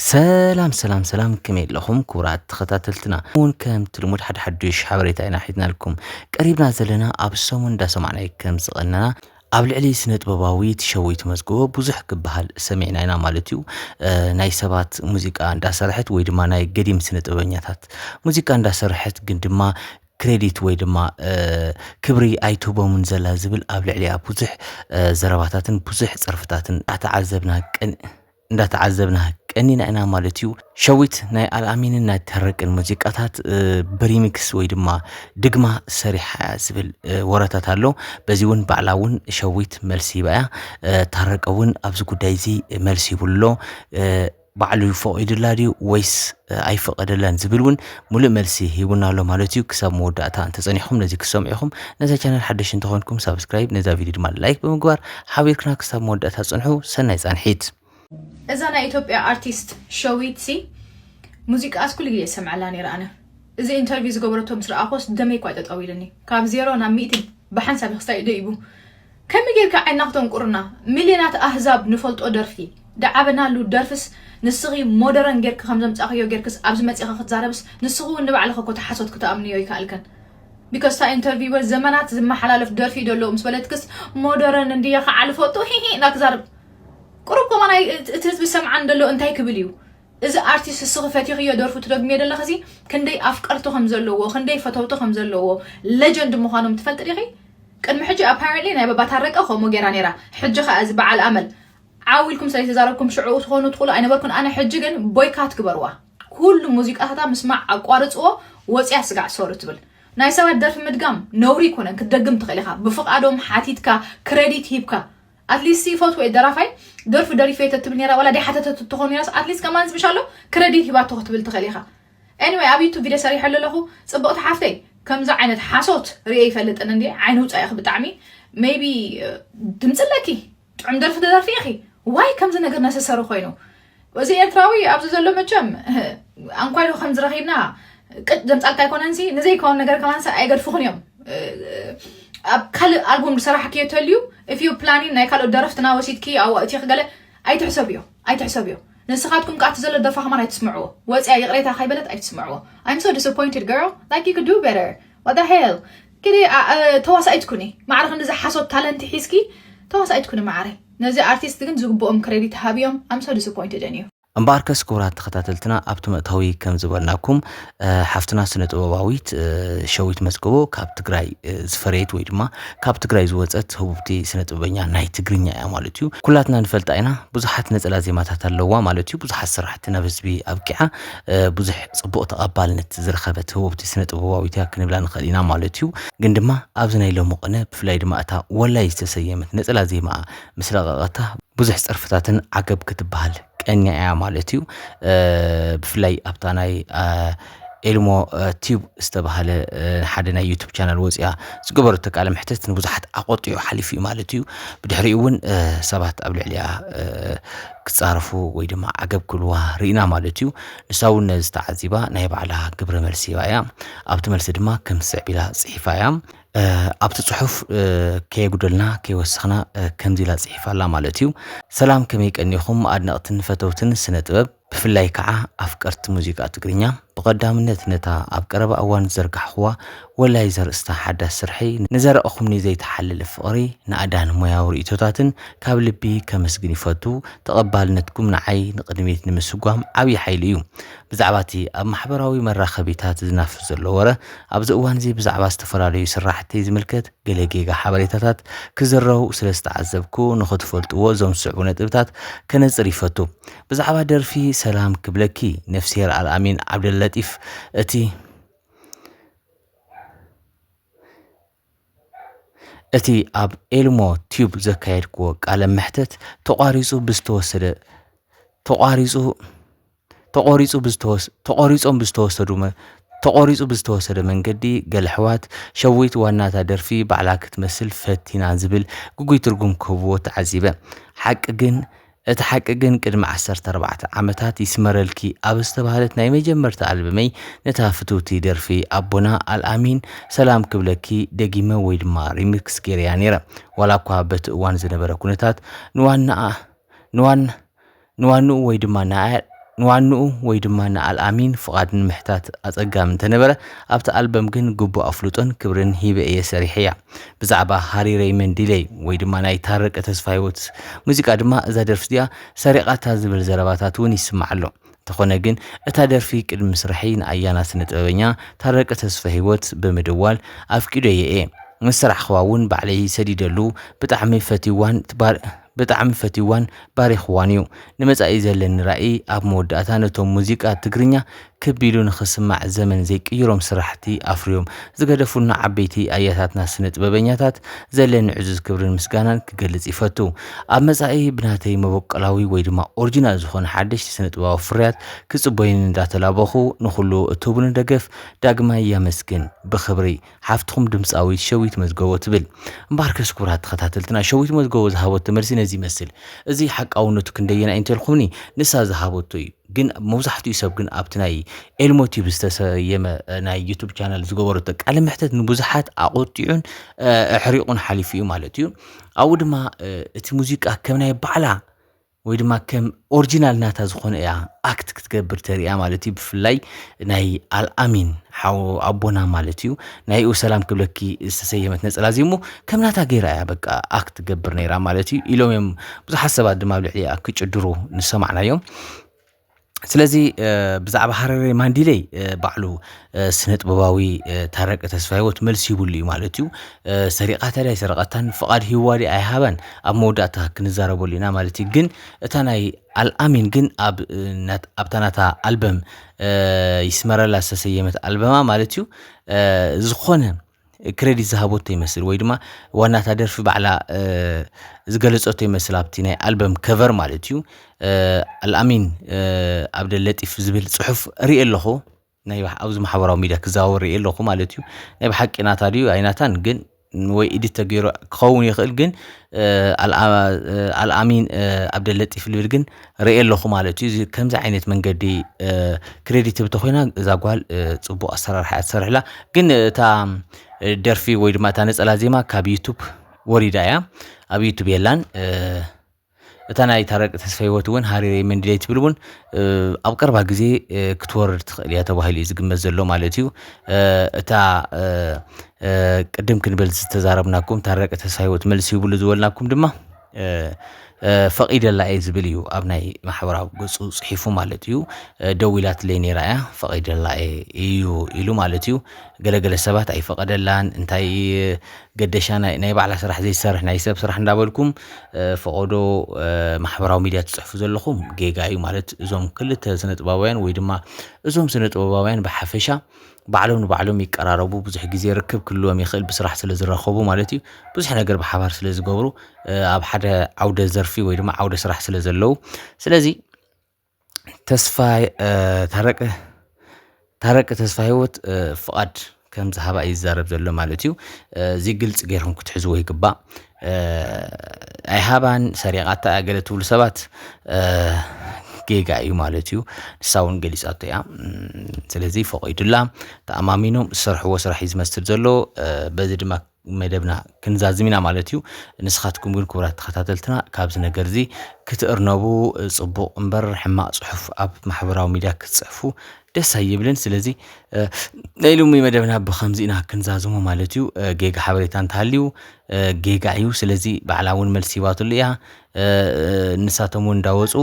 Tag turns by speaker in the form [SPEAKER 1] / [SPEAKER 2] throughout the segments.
[SPEAKER 1] ሰላም ሰላም ሰላም ከመይ ኣለኹም ክቡራት ተኸታተልትና እውን ከምቲ ልሙድ ሓደ ሓዱሽ ሓበሬታ ኢና ሒዝናልኩም ቀሪብና ዘለና ኣብ ሰሙን እንዳሰማዕናይ ከም ዝቐነና ኣብ ልዕሊ ስነ ጥበባዊ ትሸዊት መዝግቦ ብዙሕ ክበሃል ሰሚዕና ኢና ማለት እዩ ናይ ሰባት ሙዚቃ እንዳሰርሐት ወይ ድማ ናይ ገዲም ስነ ጥበበኛታት ሙዚቃ እንዳሰርሐት ግን ድማ ክሬዲት ወይ ድማ ክብሪ ኣይትህቦምን ዘላ ዝብል ኣብ ልዕሊኣ ብዙሕ ዘረባታትን ብዙሕ ፀርፍታትን ኣተዓዘብና ቅን እንዳተዓዘብና ቀኒና ኢና ማለት እዩ። ሸዊት ናይ ኣልኣሚንን ናይ ተረቅን ሙዚቃታት ብሪሚክስ ወይ ድማ ድግማ ሰሪሓ እያ ዝብል ወረታት ኣሎ። በዚ እውን ባዕላ እውን ሸዊት መልሲ ይባ እያ። ታረቀ እውን ኣብዚ ጉዳይ እዚ መልሲ ይብሉ ኣሎ። ባዕሉ ፈቒዱላ ድዩ ወይስ ኣይፈቐደላን ዝብል እውን ሙሉእ መልሲ ሂቡና ኣሎ ማለት እዩ ክሳብ መወዳእታ እንተጸኒሕኩም ነዚ ክትሰምዑ ኢኹም ነዛ ቻነል ሓደሽ እንተኾንኩም ሳብስክራይብ ነዛ ቪድዮ ድማ ላይክ ብምግባር ሓቢርክና ክሳብ መወዳእታ ጽንሑ ሰናይ ጻንሒት እዛ ናይ
[SPEAKER 2] ኢትዮጵያ ኣርቲስት ሸዊት ሲ ሙዚቃኣስ ኩሉ ግዜ ዝሰምዐላ ነይረ ኣነ እዚ ኢንተርቪው ዝገበረቶ ምስ ረኣኾስ ደመይ እኳ እዩ ጠጠው ኢልኒ ካብ ዜሮ ናብ ሚእቲ ብሓንሳብ እዩ ክሳይ ደይቡ ከመይ ጌርካ ዓይንና ክተንቁርና ሚልዮናት ኣህዛብ ንፈልጦ ደርፊ ድዓበናሉ ደርፍስ ንስኺ ሞደረን ጌርኪ ከም ዘምጻኽዮ ጌርክስ ኣብዚ መጺኺ ክትዛረብስ ንስኺ ውን ንባዕልኺ እኮ እታ ሓሶት ክተኣምንዮ ኣይከኣልክን ቢኮዝ እታ ኢንተርቪወር ዘመናት ዝመሓላለፍ ደርፊ እዩ ደሎ ምስ በለትክስ ሞደረን እንድየ ክዓ ልፈልጦ ሂሂ እንዳትዛረብ ቁሩብ ከማን እቲ ህዝቢ ዝሰምዓኒ ደሎ እንታይ ክብል እዩ እዚ ኣርቲስት እስኺ ፈቲኽዮ ደርፉ ትደግምዮ ደለኺ እዚ ክንደይ ኣፍቀርቲ ከም ዘለዎ ክንደይ ፈተውቲ ከም ዘለዎ ለጀንድ ምዃኖም ትፈልጢ ዲኺ ቅድሚ ሕጂ ኣፓረንትሊ ናይ ባባ ታረቀ ከምኡ ጌራ ኔራ ሕጂ ከኣ እዚ በዓል ኣመል ዓው ኢልኩም ስለ ዝተዛረብኩም ሽዑኡ ትኾኑ ትኽእሉ ኣይነበርኩን ኣነ ሕጂ ግን ቦይካት ግበርዋ ኩሉ ሙዚቃታታ ምስማዕ ኣቋርጽዎ ወጽያ ስጋዕ ሶሪ ትብል ናይ ሰባት ደርፊ ምድጋም ነውሪ ኣይኮነን ክትደግም ትኽእል ኢኻ ብፍቓዶም ሓቲትካ ክረዲት ሂብካ ኣትሊስት ሲ ይፈትዎ'የ ደራፋይ ደርፉ ደሪፈዮ ተትብል ኔራ ዋላ ደይሓተተቶ ትኾን ኔራስ ኣትሊስት ከማን ዝብሽ ኣሎ ክረዲት ሂባቶ ክትብል ትኽእል ኢኻ Anyway ኣብ ዩቱብ ቪድዮ ሰሪሐሉ ኣለኹ ጽብቕቲ ሓፍተይ ከምዚ ዓይነት ሓሶት ርእየ ኣይፈልጥን እንድየ ዓይኒ ውጻእ ኢኺ ብጣዕሚ ሜይቢ ድምጺ ኣለኪ ጥዑም ደርፊ ትደርፊ ኢኺ ዋይ ከምዚ ነገር ነሰሰሪ ኮይኑ እዚ ኤርትራዊ ኣብዚ ዘሎ መቸም ኣንኳይ ዶ ከምዚ ረኺብና ቅጭ ዘምጻልካ ኣይኮነንሲ ንዘይከውን ነገር ከማንሲ ኣይገድፍኹን እዮም ኣብ ካልእ ኣልቡም ዝሰራሕክዮ ተልዩ እፍዩ ፕላኒን ናይ ካልኦት ደረፍትና ወሲድኪ ኣዋእቲ ክገለ ኣይትሕሰብዮ ኣይትሕሰብዮ ንስኻትኩም ከኣ እቲ ዘሎ ደርፋ ከማን ኣይትስምዕዎ ወፅያ ይቕሬታ ከይበለት ኣይትስምዕዎ I'm so disappointed girl like you could do better what the hell ክዲ ተዋሳኢት ኩኒ ማዕረ ክንዲ ዝሓሶት ታለንቲ ሒዝኪ ተዋሳኢት ኩኒ ማዓረይ ነዚ ኣርቲስት ግን ዝግብኦም ክረዲት ሃብዮም ኣም ሶ ዲስፖይንትድ ኢን ዩ። እምበኣርከስ ክቡራት
[SPEAKER 1] ተኸታተልትና ኣብቲ መእተዊ ከም ዝበልናኩም ሓፍትና ስነ ጥበባዊት ሸዊት መዝገቦ ካብ ትግራይ ዝፈረየት ወይ ድማ ካብ ትግራይ ዝወፀት ህቡብቲ ስነ ጥበበኛ ናይ ትግርኛ እያ ማለት እዩ። ኩላትና ንፈልጣ ኢና ብዙሓት ነፀላ ዜማታት ኣለዋ ማለት እዩ። ብዙሓት ስራሕቲ ናብ ህዝቢ ኣብቂዓ። ብዙሕ ጽቡቕ ተቐባልነት ዝረኸበት ህቡብቲ ስነ ጥበባዊት እያ ክንብላ ንኽእል ኢና ማለት እዩ። ግን ድማ ኣብዚ ናይ ሎሚ ቅነ ብፍላይ ድማ እታ ወላይ ዝተሰየመት ነጸላ ዜማኣ ምስ ለቐቐታ ብዙሕ ጸርፍታትን ዓገብ ክትበሃል ቀንያ እያ ማለት እዩ። ብፍላይ ኣብታ ናይ ኤልሞ ቲዩብ ዝተባሃለ ሓደ ናይ ዩቱብ ቻናል ወፅያ ዝገበረቶ ቃለ መሕተት ንብዙሓት ኣቆጢዑ ሓሊፉ እዩ ማለት እዩ። ብድሕሪኡ እውን ሰባት ኣብ ልዕሊኣ ክጻረፉ ወይ ድማ ዓገብ ክብልዋ ርኢና ማለት እዩ። ንሳ እውን ነዚ ተዓዚባ ናይ ባዕላ ግብረ መልሲ ሂባ እያ። ኣብቲ መልሲ ድማ ከም ዝስዕብ ኢላ ጽሒፋ እያ። ኣብቲ ጽሑፍ ከየጉደልና ከይወሰኽና ከምዚ ኢላ ጽሒፋ ኣላ ማለት እዩ። ሰላም ከመይ ቀኒኹም ኣድነቕትን ፈተውትን ስነ ጥበብ ብፍላይ ከዓ ኣፍቀርቲ ሙዚቃ ትግርኛ። ብቐዳምነት ነታ ኣብ ቀረባ እዋን ዝዘርጋሕኹዋ ወላይ ዘርእስታ ሓዳስ ስርሐይ፣ ንዘረኣኹምኒ ዘይተሓለለ ፍቕሪ፣ ናእዳን ሞያዊ ርእይቶታትን ካብ ልቢ ከመስግን ይፈቱ። ተቐባልነትኩም ንዓይ ንቕድሚት ንምስጓም ዓብዪ ሓይሊ እዩ። ብዛዕባ እቲ ኣብ ማሕበራዊ መራኸቢታት ዝናፈስ ዘሎ ወረ፣ ኣብዚ እዋን'ዚ ብዛዕባ ዝተፈላለዩ ስራሕተይ ዝምልከት ገለ ጌጋ ሓበሬታታት ክዝረቡ ስለ ዝተዓዘብኩ፣ ንኽትፈልጡዎ እዞም ዝስዕቡ ነጥብታት ከነጽር ይፈቱ። ብዛዕባ ደርፊ ሰላም ክብለኪ ነፍስሄር ኣልኣሚን ዓብደለጢፍ እቲ እቲ ኣብ ኤልሞ ቲዩብ ዘካየድክዎ ቃለ መሕተት ተቋሪፁ ብዝተወሰደ ተቋሪፁ ተቆሪፁ ብዝተወስ ተቆሪፆም ብዝተወሰዱ ተቆሪፁ ብዝተወሰደ መንገዲ ገለ ኣሕዋት ሸዊት ዋናታ ደርፊ ባዕላ ክትመስል ፈቲና ዝብል ግጉይ ትርጉም ክህብዎ ተዓዚበ ሓቂ ግን እቲ ሓቂ ግን ቅድሚ ዓሰርተ ኣርባዕተ ዓመታት ይስመረልኪ ኣብ ዝተባህለት ናይ መጀመርታ ኣልበመይ ነታ ፍትውቲ ደርፊ ኣቦና ኣልኣሚን ሰላም ክብለኪ ደጊመ ወይ ድማ ሪሚክስ ጌረያ ነይረ ዋላ እኳ በቲ እዋን ዝነበረ ኩነታት ንዋናኣ ንዋን ንዋንኡ ወይ ድማ ንኣ ንዋንኡ ወይ ድማ ንኣልኣሚን ፍቓድ ንምሕታት ኣጸጋሚ እንተነበረ፣ ኣብታ ኣልበም ግን ግቡእ ኣፍልጦን ክብርን ሂበ እየ ሰሪሐያ። ብዛዕባ ሃሪ ረይመን ዲለይ ወይ ድማ ናይ ታረቀ ተስፋሂወት ሙዚቃ ድማ እዛ ደርፊ እዚኣ ሰሪቓታ ዝብል ዘረባታት እውን ይስማዕ ኣሎ። እንተኾነ ግን እታ ደርፊ ቅድሚ ምስራሐይ ንኣያና ስነጥበበኛ ታረቀ ተስፈሂወት ብምድዋል ኣፍቂዶዬ እየ። ምስ ስራሕኽዋ እውን ባዕለይ ሰዲደሉ ብጣዕሚ ፈትዩዋን ብጣዕሚ ፈትዩዋን ባሪኹዋን እዩ። ንመጻኢ ዘለኒ ራኢ ኣብ መወዳእታ ነቶም ሙዚቃ ትግርኛ ክብ ኢሉ ንኽስማዕ ዘመን ዘይቅይሮም ስራሕቲ ኣፍርዮም ዝገደፉልና ዓበይቲ ኣያታትና ስነጥበበኛታት ዘለኒ ዕዙዝ ክብርን ምስጋናን ክገልጽ ይፈቱ። ኣብ መጻኢ ብናተይ መበቆላዊ ወይ ድማ ኦርጂናል ዝኾነ ሓደሽቲ ስነጥበባዊ ፍርያት ክጽበዩኒ እንዳተላበኹ ንኹሉ እትህቡኒ ደገፍ ዳግማይ ያመስግን። ብኽብሪ። ሓፍትኹም ድምጻዊት ሸዊት መዝገቦ ትብል። እምበኣርከስ ክቡራት ተኸታተልትና ሸዊት መዝገቦ ዝሃበቶ መልሲ ነዚ ይመስል። እዚ ሓቃውነቱ ክንደየናይ እንተልኩምኒ ንሳ ዝሃበቶ እዩ። ግን መብዛሕትኡ ሰብ ግን ኣብቲ ናይ ኤልሞ ቲዩብ ዝተሰየመ ናይ ዩቱብ ቻናል ዝገበረቶ ቃለ መሕተት ንብዙሓት ኣቖጢዑን ኣሕሪቑን ሓሊፉ እዩ ማለት እዩ። ኣብኡ ድማ እቲ ሙዚቃ ከም ናይ ባዕላ ወይ ድማ ከም ኦሪጂናል ናታ ዝኾነ እያ ኣክት ክትገብር ተርእያ ማለት እዩ ብፍላይ ናይ ኣልኣሚን ሓው ኣቦና ማለት እዩ ናይኡ ሰላም ክብለኪ ዝተሰየመት ነፀላ እዚ እሞ ከም ናታ ገይራ እያ በቃ ኣክት ትገብር ነይራ ማለት እዩ ኢሎም እዮም ብዙሓት ሰባት ድማ ኣብ ልዕሊኣ ክጭድሩ ንሰማዕናዮም ስለዚ ብዛዕባ ሃረሬ ማንዲለይ ባዕሉ ስነ ጥበባዊ ታረቂ ተስፋሂወት መልሲ ይብሉ እዩ ማለት እዩ ሰሪቓ ተዳ ኣይሰረቐታን ፍቓድ ሂዋ ድኣ ኣይሃባን ኣብ መወዳእታ ክንዛረበሉ ኢና ማለት እዩ ግን እታ ናይ ኣልኣሚን ግን ኣብ ኣብታ ናታ ኣልበም ይስመረላ ዝተሰየመት ኣልበማ ማለት እዩ ዝኾነ ክረዲት ዝሃበቶ ይመስል ወይ ድማ ዋና እታ ደርፊ ባዕላ ዝገለፀቶ ይመስል ኣብቲ ናይ ኣልበም ከቨር ማለት እዩ ኣልኣሚን ኣብደ ለጢፍ ዝብል ፅሑፍ ርኢ ኣለኹ ናይ ኣብዚ ማሕበራዊ ሚዲያ ክዛወር ርኢ ኣለኹ ማለት እዩ ናይ ብሓቂ ናታ ድዩ ኣይናታን ግን ወይ ኢዲት ተገይሩ ክኸውን ይኽእል ግን ኣልኣሚን ኣብደ ለጢፍ ልብል ግን ርእየ ኣለኹ ማለት እዩ። እዚ ከምዚ ዓይነት መንገዲ ክሬዲት ህብቶ ኮይና እዛ ጓል ጽቡቕ ኣሰራርሓ እያ ትሰርሕላ። ግን እታ ደርፊ ወይ ድማ እታ ነጸላ ዜማ ካብ ዩቱብ ወሪዳ እያ፣ ኣብ ዩቱብ የላን። እታ ናይ ታረቂ ተስፋ ህይወት እውን ሃሪሬ መንድለይ ትብል እውን ኣብ ቀርባ ግዜ ክትወርድ ትኽእል እያ ተባሂሉ እዩ ዝግመት ዘሎ ማለት እዩ። እታ ቅድም ክንብል ዝተዛረብናኩም ታረቂ ተስፋ ህይወት መልሲ ይብሉ ዝበልናኩም ድማ ፈቒደላ እየ ዝብል እዩ ኣብ ናይ ማሕበራዊ ገፁ ፅሒፉ ማለት እዩ። ደዊላትለይ ነይራ እያ ፈቒደላ እዩ ኢሉ ማለት እዩ። ገለገለ ሰባት ኣይፈቐደላን እንታይ ገደሻ ናይ ባዕላ ስራሕ ዘይትሰርሕ ናይ ሰብ ስራሕ እንዳበልኩም ፈቐዶ ማሕበራዊ ሚዲያ ትፅሕፉ ዘለኹም ጌጋ እዩ ማለት እዞም ክልተ ስነጥበባውያን ወይ ድማ እዞም ስነጥበባውያን ብሓፈሻ ባዕሎም ንባዕሎም ይቀራረቡ ብዙሕ ግዜ ርክብ ክህልዎም ይኽእል ብስራሕ ስለ ዝራኸቡ ማለት እዩ። ብዙሕ ነገር ብሓባር ስለ ዝገብሩ ኣብ ሓደ ዓውደ ዘርፊ ወይ ድማ ዓውደ ስራሕ ስለ ዘለዉ ስለዚ ተስፋ ታረቀ ታረቀ ተስፋ ሂወት ፍቓድ ከም ዝሃባ እዩ ዝዛረብ ዘሎ ማለት እዩ። እዚ ግልፂ ጌርኩም ክትሕዝዎ ይግባእ። ኣይሃባን ሰሪቓታ እያ ገለ ትብሉ ሰባት ጌጋ እዩ ማለት እዩ ንሳ እውን ገሊፃቶ እያ ስለዚ ፈቒዱላ ተኣማሚኖም ዝሰርሕዎ ስራሕ እዩ ዝመስል ዘሎ በዚ ድማ መደብና ክንዛዝም ኢና ማለት እዩ ንስኻትኩም ግን ክቡራት ተኸታተልትና ካብዚ ነገር እዚ ክትእርነቡ ፅቡቕ እምበር ሕማቕ ፅሑፍ ኣብ ማሕበራዊ ሚድያ ክትፅሕፉ ደስ ኣይብልን። ስለዚ ናይ ሎሚ መደብና ብከምዚ ኢና ክንዛዝሞ ማለት እዩ። ጌጋ ሓበሬታ እንተሃልዩ ጌጋ እዩ። ስለዚ ባዕላ እውን መልሲ ይባትሉ እያ። ንሳቶም እውን እንዳወፁ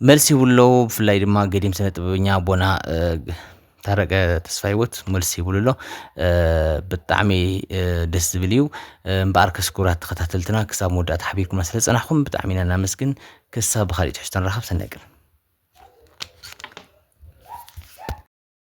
[SPEAKER 1] መልሲ ይብሉ ኣለዉ። ብፍላይ ድማ ገዲም ስነ ጥበበኛ ኣቦና ታረቀ ተስፋ ሂወት መልሲ ይብሉ ኣሎ። ብጣዕሚ ደስ ዝብል እዩ። እምበኣር ከስኩራት ተኸታተልትና ክሳብ መወዳእታ ሓቢርኩምና ስለዝፀናሕኩም ብጣዕሚ ኢና እናመስግን። ክሳብ ብኻሊእ ትሕዝቶ ንራኸብ ሰናይ ቀን።